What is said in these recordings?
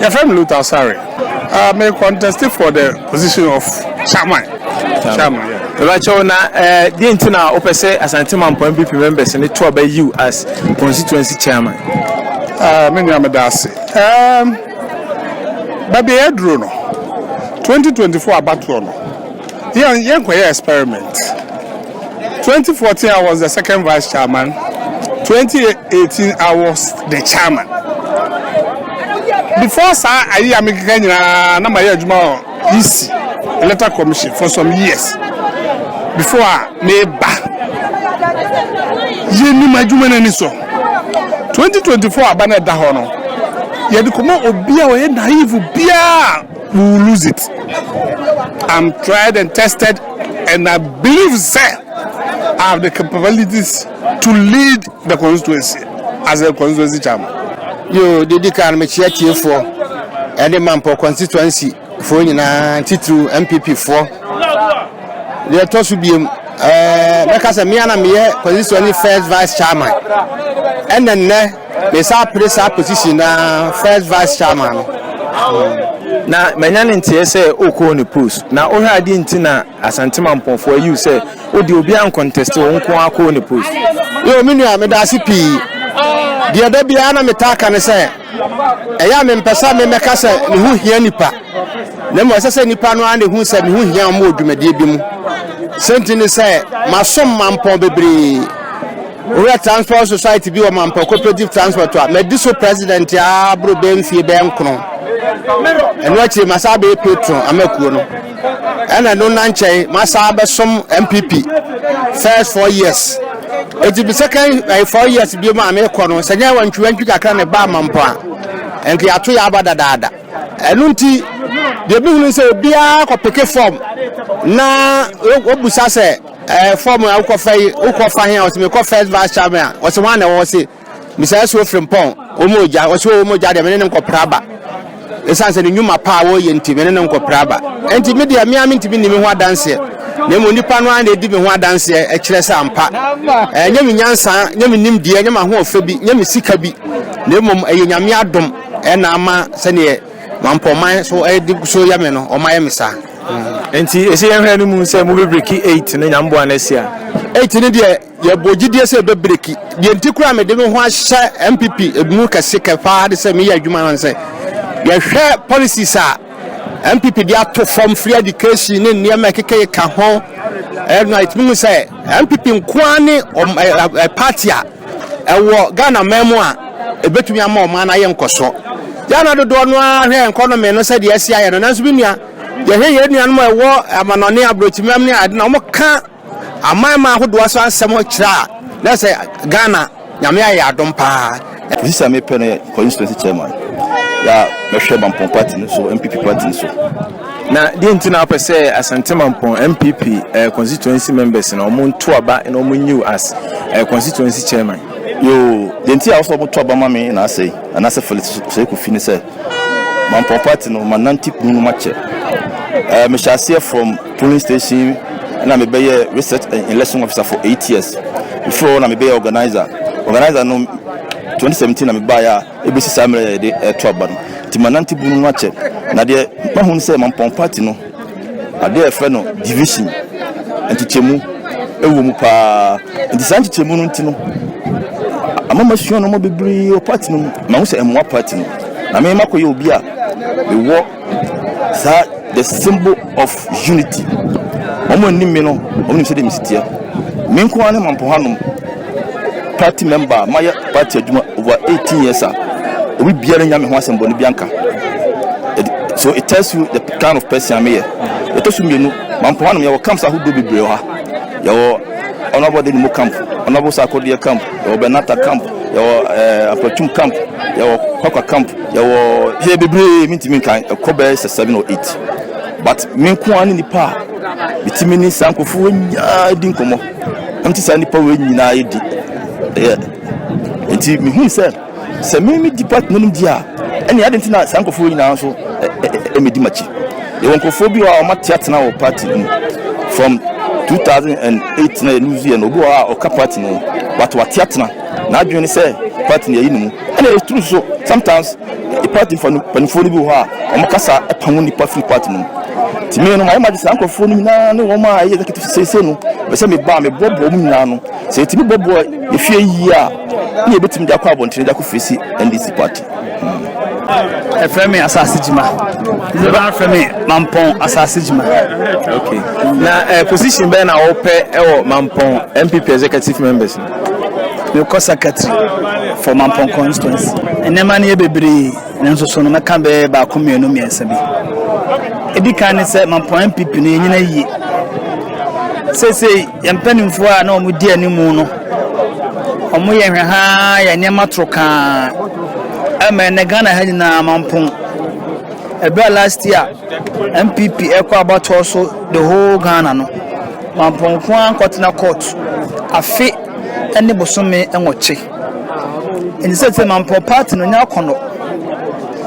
yɛfrɛ me luta sare uh, me contest for the position of chairman chairman yeah. Rachael na eh, deɛ nti na wopɛ sɛ asante mampɔ mpp members ne to aba you as constituency chairman uh, me nua meda ase um, baabi ɛyɛ duro no 2024 abatoɔ no Yɛn yɛn kɔ yɛ experiment twenty fourteen I was the second vice chairman twenty eighteen I was the chairman before saa ayi a mekeka nyinaa na ma yɛ adwuma wɔ EC electoral commission for some years before a meba yɛ nim adwuma no ani so twenty twenty four aba na ɛda hɔ no yɛde kɔma obi a ɔyɛ naive biara. You will lose it. I'm tried and tested, and I believe, sir, I have the capabilities to lead the constituency as a constituency chairman. Yo, didi kan me chia tie for, and the Mampo constituency for you na titru MPP for. The tosu biem. Mɛka sɛ mea na meyɛ constituency first vice chairman ɛnɛ nnɛ Me saa pere saa position na first vice chairman no. Na manya ne nteɛ sɛ okɔɔ ne post. Na wohwɛ adeɛ nti na Asantema mpɔnfoɔ ayiw sɛ wode obi anconteste wo nko ara kɔɔ ne post. Yo me nua meda ase pii. Deɛ da biara na metaa ka ne sɛ ɛyɛ a mempɛ sɛ me mɛka sɛ me ho hia nipa. Na mmom ɛsɛ sɛ nipa no ara na ehu sɛ me ho hia wɔn wɔ dwumadie bi mu. Sɛnti ne sɛ masom mampɔn bebree. Owura Transport Society bi wɔ Mampɔ Cooperative Transport a madi so president a boro bɛyɛ mfie bɛyɛ nkron. Ɛno akyiri ma saa bɛyɛ patron amakuo no. Ɛna ɛno na nkyɛn ma saa bɛsom MPP first four years. Eti bi second ɛyɛ eh, four years bi mu a mekɔ no sɛ nyɛ wantwi wantwi kakra na ɛbaa Mampɔ a ɛnka yɛato yɛ aba dadaada. Ɛno nti deɛ bi hunu sɛ obiara kɔpeke fam na wɔbusa sɛ Ɛɛ fɔm a wokɔfa yi wokɔfa he a ɔse mekɔ first vice chairman a ɔse hwan na ɛwɔ hɔ se mesaa suo firi mpɔn wɔn ogya ɔse o wɔn ogya deɛ mene ne nkɔpra aba ɛsiane sɛ ne nnwuma paa wɔyɛ nti mene ne nkɔpra aba ɛnti me deɛ mea mentumi nni me ho adanseɛ na mmom nipa no ara na ɛdi me ho adanseɛ ɛkyerɛ sɛ ampa ɛnyɛ me nyansa nyɛ me nimdeɛ nyɛ m'ahoɔfɛ bi nyɛ me sika bi na mmom ɛyɛ nyame adom ɛna ama sɛdeɛ mampɔman so ɛde so yɛ me no ɔma yɛ me saa Nti ɛsɛ yɛhwɛ no mu sɛ mobɛbreki 8 no nyamboa no asi a. Eight no deɛ yɛbɔ gyidie sɛ ɛbɛ breki deɛ nti koraa mede me ho ahyɛ npp mu kɛse kɛ paa de sɛ meyɛ adwuma no sɛ yɛhwɛ policies a npp de ato fam free education ne nneɛma ɛkekɛyɛ ka ho ɛna ɛtumi mu sɛ npp nkoa ne party a Ɛwɔ Ghana man mu a, ɛbɛtumi ama ɔman no ayɛ nkɔsoɔ. Ghana dodoɔ no ara hwɛ yɛn kɔnome no sɛdeɛ asi ayɛ no, nanso me nua, yɛhwɛ yɛn nuanom a ɛwɔ amanɔne aborɔkyimam ne ade na wɔka aman ma ahodoɔ so asɛm kyerɛ a, na sɛ Ghana, Nyame ayɛ yɛn adom paa. Sisi a mepɛ no yɛ constituency chairman yɛ a mɛhwɛ mampɔn party no so npp party no so. Na deɛ nti na wopɛ sɛ Asante Mampɔn MPP uh, eh, constituency members na wɔn nto aba na wɔn new as uh, constituency chairman? Yoo, deɛ nti a wɔsɛ wɔn to aba ma me na asɛe anaasɛ Felix Seko fi ne sɛ Mampɔn party no ma nante kunu no makyɛ. Uh, eh, mehyɛ aseɛ from polling station na mebɛyɛ research and election officer for eight years. Before na mebɛyɛ organizer. Organizer no 2017 na mebaeɛ a ɛbɛsi saa mmerɛ a yɛde reto aba no nti manante bunu no akyɛ na deɛ mahu no sɛ mampɔn party no adeɛ a ɛfrɛ no division nkyekyɛmu ɛwɔ mu paa nti saa nkyekyɛmu no nti no ama masua no ma bebree wɔ party no mu mahu sɛ ɛmmoa party no na mema kɔyɛ obi a mewɔ Saa the symbol of unity wɔn a nim me no wɔn nim sɛdeɛ mesi teɛ me nko ara ne mampo hanom party member a mayɛ party adwuma over 18 years a obi biara nya me ho asɛm bɔne bi anka so it tells you the kind of person a meyɛ yɛtɔ so mmienu mampo hanom yɛwɔ camps ahodoɔ bebree wɔ ha yɛwɔ honorable de mu camp honorable sakodeɛ camp yɛwɔ benata camp yɛwɔ uh, eh, apatum camp yɛwɔ kwakwa camp Yɛwɔ here bebree mentumi nkan ɛkɔ bɛyɛ sɛ seven or eight but me nko ara ne nipa a metumi ne saa nkurɔfoɔ nyinaa di nkɔmmɔ na mete saa nipa wei nyinaa di ɛyɛ nti mehu sɛ sɛ me me di partner no di a ɛne ade nti na saa nkurɔfoɔ nyinaa nso ɛmɛdi makyi yɛwɔ nkurɔfoɔ bi wɔ a wɔate atena wɔ party no mu from 2008 na yɛluzu yɛ no obi wɔ a ɔka party no but wate atena N'adwene ne sɛ party no yɛyi no mu. Ɛna ɛyɛ true nso, sometimes party mpaninfoɔ no bi wɔ hɔ a wɔn kasa pamo nnipa firi party no mu. Nti me no mayɛ m'adwene saa nkorɔfoɔ no nyinaa ne wɔn a ɛyɛ executive seesei no, ɛbɛ sɛ meba a meboaboa wɔn nyinaa ano. Sɛ yɛtumi boaboa yɛfie yie a, na yɛbɛtumi de akɔ abɔntene de akɔ face NDC party. ɛfrɛ me asase gyima ɛbɛba frɛ me mampɔn asase gyima okay na uh, position bɛn na wɔpɛ ɛwɔ mampɔn mpp executive members mekɔ secretary for mampɔn constituency nneɛma no yɛ bebree nanso so no mɛka bɛɛ baako mmienu mmiɛnsa bi ɛdi kan ne sɛ mampɔn mpp no ɛnyina yie seesei yɛn mpanimfoɔ a na wɔn di anim no wɔn yɛ hwɛhaa yɛ nneɛma toro kaa ɛmɛ ɛnɛ ghana ha nyinaa mampɔn ɛberɛ a last year mpp ɛkɔ abatoɔ so the whole ghana no Mampɔn nko ara nkɔtena court afe ne bosome nwɔtwe. Nti sɛsɛ Mampɔn party no nyɛ akɔnɔ.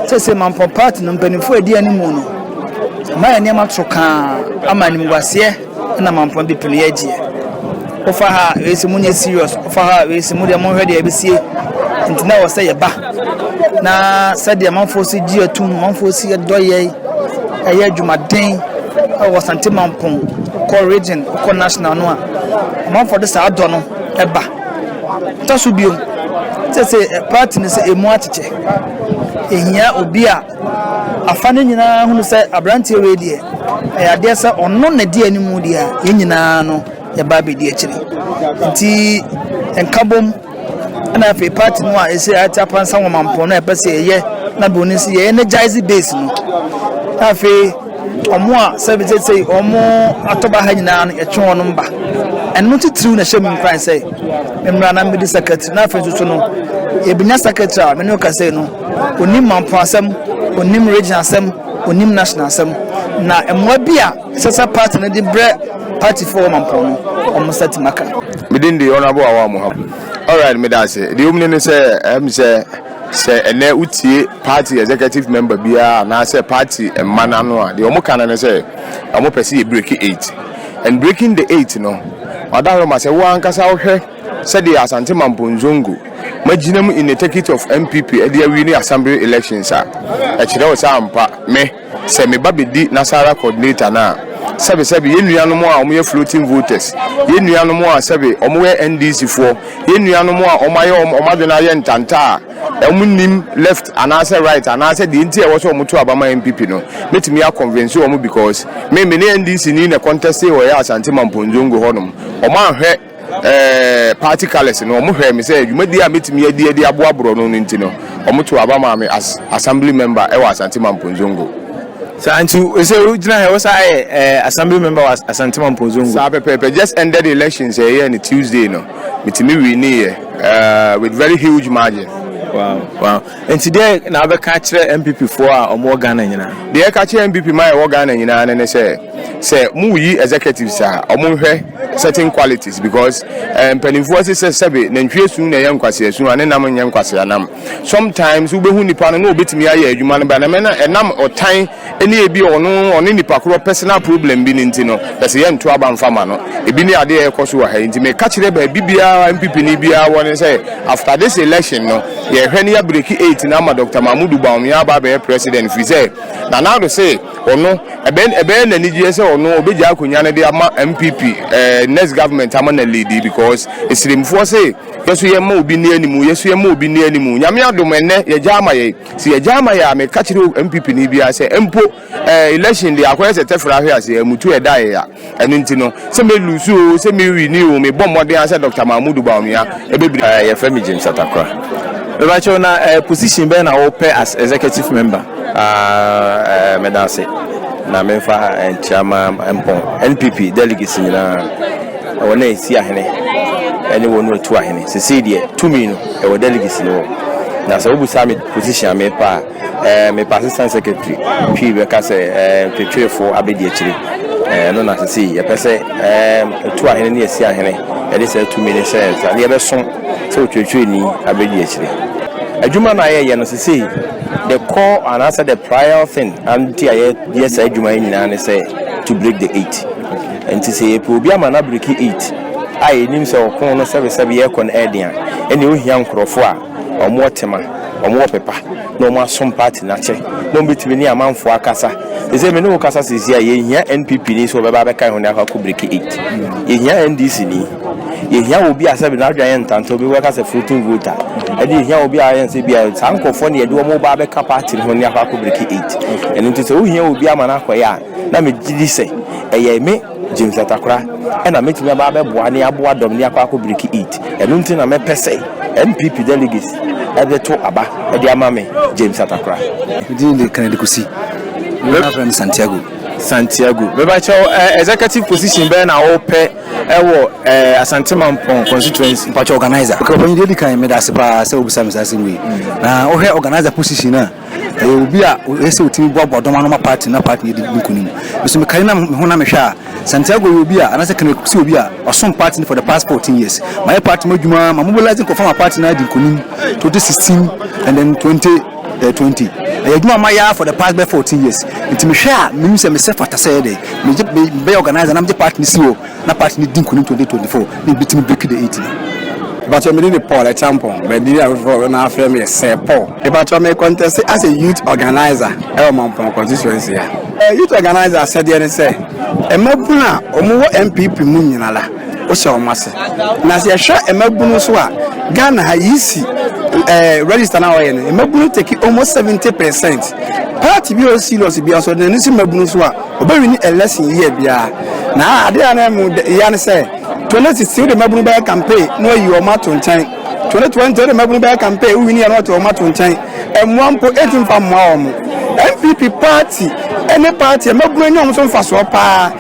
Sɛsɛ Mampɔn party no mpanimfoɔ edi animu no mayɛ nneɛma trokaa ama animguaseɛ na Mampɔn people no yɛ agyeɛ. Wofa ha wei se monyɛ serious, wofa ha wei se modeɛ monhwɛ deɛ ɛbɛsie. Nti na ɛwɔ sɛ yɛba. na sɛdeɛ manfoɔ si gye atum manfoɔ si dɔ yɛn ɛyɛ adwumaden wɔ sante mampɔn kɔ region kɔ national no a manfoɔ de saa dɔ no ɛba tɔ so biom sɛ sɛ eh, party no sɛ ɛmu akyekyɛ ɛhia obi a afa no nyinaa hunu sɛ aberanteɛ wei deɛ ɛyɛ adeɛ sɛ ɔno na di anim deɛ a yɛn nyinaa no yɛba abɛdi akyire nti nkabom Ɛna afei party no a ɛsɛ ate apansa wɔ mampɔn no a ɛpɛ sɛ yɛyɛ na bɛ onim sɛ yɛ energize base no na afei wɔn a sɛ bi sɛ wɔn atɔba ha nyinaa no yɛtwe wɔn ba ɛno titiriw na ɛhyɛ mu nkuran sɛ mmara na mmedi secretary na afei nso no yɛbɛnya secretary a mene ɔka sɛ no onim mampɔn asɛm onim region asɛm onim national asɛm na mmoa bi a Ɛsɛ sɛ party no de brɛ party foɔ a wɔma mpɔn no wɔn nsa tim aka. Me din de Honourable Awaa Mohammed. Alright, meda ase. Deɛ ɛwom no ne sɛ, ɛyɛ me sɛ sɛ ɛnɛ wotie party executive member biara anaasɛ party mma no ano a, deɛ wɔn ka no ne sɛ wɔn pɛ sɛ yɛ break eight. And breaking the eight no, Madam Roma, sɛ wo ankasa wohwɛ sɛdeɛ Asante Mampong Zongo magyina mu in the circuit of MPP de awie ne assembly elections a, ɛkyerɛ wo sɛ ampa me Sɛ me ba bɛdi Nasara coordinator no a, sɛbe sɛbe, yɛn nuanom a wɔyɛ floating voters, yɛn nuanom a sɛbe wɔyɛ NDC foɔ, yɛn nuanom a wɔayɛ wɔn wɔn adwene ayɛ ntanta a wɔnnim left anaasɛ right anaasɛ deɛ nti a ɛwɔ sɛ wɔto aba ma NPP no, mɛtumi a convince wɔn because me, me ne NDC ni na contest wɔ yɛn Asante Mampong Zongo hɔnom, wɔanhwɛ. Ɛɛ, party colours no, wɔhwɛɛ me sɛ dwumadi a mɛtumi adi adi aboa borɔno no nti no, wɔtoo aba maa me as Assembly Member wɔ Asante Mampong Zongo. Saa nti sɛ wogyina ha, wosan ayɛ ɛɛ, Assembly Member wɔ Asante Mampong Zongo? Saa pɛpɛɛpɛ, just ended elections a yɛyɛɛ no Tuesday no, metumi winnieɛ, ɛɛ, with very huge margin. Wow, wow. Nti deɛn na wobɛka akyerɛ NPP foɔ a wɔwɔ Ghana nyinaa? Deɛ yɛka kyerɛ NPP ma yɛwɔ Ghana nyinaa no ne sɛ, sɛ moreyi executives a, wɔnhwɛ certain qualities because eh, mpanimfoɔ se sɛ sɛbe nantwie su na ɛyɛ nkwasea su a ne nam nyɛ nkwasea nam. Sometimes wobɛhu nipa no na ɔbɛtumi ayɛ adwuma no ba na mɛna ɛnam ɔtan ne ebia ɔno ɔne nipa korɔ personal problem bi ne nti no pɛ sɛ yɛnto aba mfa ma no ebi ne adeɛ a ɛkɔ so wɔ ha yi nti meka kyerɛ baabi biara MPP ni biara wɔ ne sɛ after this election no yɛhwɛ ne yɛabreki eight na ama Dr. Mahmudu Bawumia aba abɛyɛ president firi sɛ Nana Addo se ɔno ɛbɛyɛ n'anigyeɛ sɛ ɔno ɔbɛgya akonnwa no de ama MPP eh, next government ama na leadi because esirimfoɔ se yɛso yɛma obi ne animu yɛso yɛma obi ne animu nyame adom ɛnnɛ yɛgya ama yɛ Sɛ yɛgyae ma yɛ a, meka kyerɛ NPP ni biara sɛ mpo eh, election deɛ akɔyɛ sɛ tɛfrɛ ahwe ase, eh, mutu ɛda yɛ ya. Ɛno nti no, sɛ me lose o, sɛ me wini o, mebɔ mmɔden a sɛ Dr. Mahmoud Bawumia ɛbɛbiri. Eh, yɛfrɛ me James Atakora. Mebakyɛw na eh, position bɛn na wopɛ as executive member? Ah, eh, meda ase na memfa eh, nkyia ma mpɔn NPP delegates nyinaa, wɔn a ɛsi ahene ɛne wɔn a ɛtu ahene. Sesei deɛ tumi no Ɛwɔ delicacy no hɔ na sɛ wobusa me position a me pa a ɛɛ me pa assistant secretary twi bɛ ka sɛ ɛɛ ntwetweefo abedi akyire ɛɛ no na sisi yɛ pɛ sɛ ɛɛ etu ahene ne esi ahene ɛde sɛ etu mi ne sɛ ɛsa ne yɛ bɛ so sɛ otwetwee ni abedi akyire adwuma na yɛ yɛ no sisi the core and asa the prior thing and ti a yɛ yɛ sɛ adwuma yɛ nyinaa ne sɛ to break the eight nti sɛ yɛ pɛ obi ama na breki eight. a yɛnim sɛ ɔko no sɛbesɛbe rekɔ no ɛden a, ɛnneɛ ohia nkorɔfoɔ a wɔn wɔ tema, wɔn wɔ pepa, na wɔn asom party no akyɛ, na wɔn bɛtumi ne amanfoɔ akasa. Te sɛ me ne wo kasa seesei a, yɛhia NPP ni sɛ ɔbɛba abɛka yɛn ho na yɛakɔ akɔ break it. Yɛhia NDC ni. Yɛhia obi a sɛbe n'adwene ayɛ ntanta, obi bɛka sɛ floating voter. Ɛne yɛhia obi a yɛn sɛ bi a saa nkorɔfoɔ na yɛde wɔn ba abɛka party no ho na yɛakɔ akɔ break it. Ɛno nti sɛ wohia obi ama no akɔyɛ a, Na megye di sɛ ɛyɛ me, James Atakora, na mɛtumi aba abɛboa ne aboa dɔm ne akɔ akɔ breki it. Ɛno nti na mɛpɛ sɛ NPP delegates bɛto aba de ama me, James Atakora. Me din de Kennedy Kosi. Dodoɔ no ara frɛ me Santiago. Santiago, meba kyɛw eh, executive position bɛn na wo pɛ ɛwɔ eh, Asante Mampong constituency? Mpakyɛ organizer. Okay, ɔpanyin deɛ edi kan meda ase paa sɛ wobisa me saa asɛm wei. Na wohwɛ organizer position a. Ɛyɛ obi a ɔyɛ sɛ ɔtumi boaboa dɔm ano ma party na party no adi nkunim. Me nso mekari na me ho na mehwɛ a, Santiago yɛ obi a, anaasɛ Kenneth Cook nso yɛ obi a ɔsom party no for the past 14 years. Mayɛ party mu adwuma, ma mobilise nkurɔfoɔ ma party no adi nkunim, 2016 and then 2020. Ɛyɛ adwuma a mayɛ ara for the past bɛyɛ 14 years. Nti mehwɛ a, menim sɛ mesɛ fata sɛ ɛyɛ dɛn, mebɛyɛ organiser na megye party no si hɔ. na party no di nkunim twenty twenty four na ebi tumi break the eighty. Ebakyɛ me din de Paul Ɛkyampong, but din a foforɔ na afrɛ me yɛ Sir Paul. Ebakyɛ me contest as a youth organizer ɛwɔ Mampong constituency a. Eh, youth organizer asɛdeɛ ne sɛ, mmabunu a wɔn wɔ NPP mu nyina la, wohyɛ wɔn ase. Na sɛ yɛhwɛ mmabunu nso a, Ghana ha yi si eh, register na wɔyɛ no, mmabunu take almost seventy percent. Party bi a ɔyɛ serious bi nso, na ne si mmabunu so a, Obe wini election year biara na ade a na ɛmu dɛ yia ne sɛ 2016 wode mmabunu bɛyɛ campaign na wayi wɔn ato nkyɛn, 2020 wode mmabunu bɛyɛ campaign wo wini a na wate wɔn ato nkyɛn, mmoa mpo ɛntumi mfa mmoa wɔn. NPP party ne party a mmabunu anya wɔn so mfasoɔ paa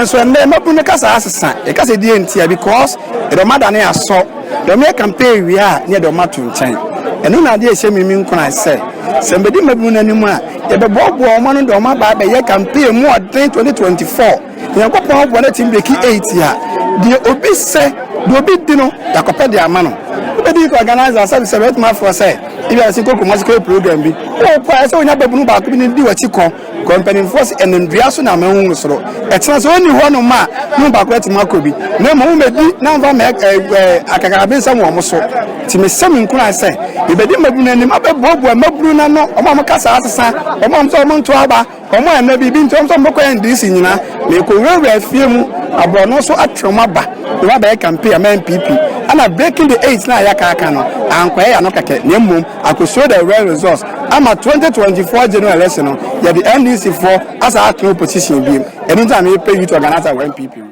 nso ɛnnɛ mmabunu no kasa asesa, yɛkasa die ntia because yɛde wɔn adane asɔ, deɛ wɔyɛ campaign wie a na yɛde wɔn ato nkyɛn. Ɛno na adeɛ ɛhyɛ me mi nkuran sɛ sɛ mbɛdi mmabunu no anim a, Yɛbɛboaboa wɔn ano de wɔn aba abɛyɛ campaign mu ɔden 2024. Nyankopɔn aboa na team beki 8 a, deɛ obi sɛ, deɛ obi di no, yɛakɔpɛ de ama no. Wobɛdi nka organizer a, sɛbe sɛbe wobɛtumi afrɛ sɛ, ebia sɛ kɔ Kumasi kɔyɛ program bi. Wokɔ a, ɛsɛ sɛ wonya babunu baako bi na odi w'akyi kɔ, kɔ mpanimfoɔ se, ɛnam dua so na ama ahunu soro. Ɛkyena sɛ ɔnni hɔnom a, ne mu baako atumi akɔ bi. Na mmom, wo mmɛdi na mfa mma akakrabensɛm wɔ wɔn so. Nti mesɛ mo nkuran sɛ, yɛbɛdi mmabunu no anim, abɛboaboa mmabunu no ano, wɔn a wɔn kasa asesa, wɔn a wɔn sɛ wɔn nto aba, wɔn a na biribi nti wɔn sɛ wɔn bɛkɔ NDC nyinaa, merekɔwurawura afie mu, aborɔno so atwe wɔn aba, na wɔabɛyɛ campaign ama NPP. Ɛna breaking the eight no a yɛaka aka no, ankɔyɛ yɛano kɛkɛ, na mmom akɔsuro the real results, ama 2024 general election no, yɛde NDC foɔ asan atena opposition biom. Ɛno nti na mepɛ youth organizer wɔ NPP mu.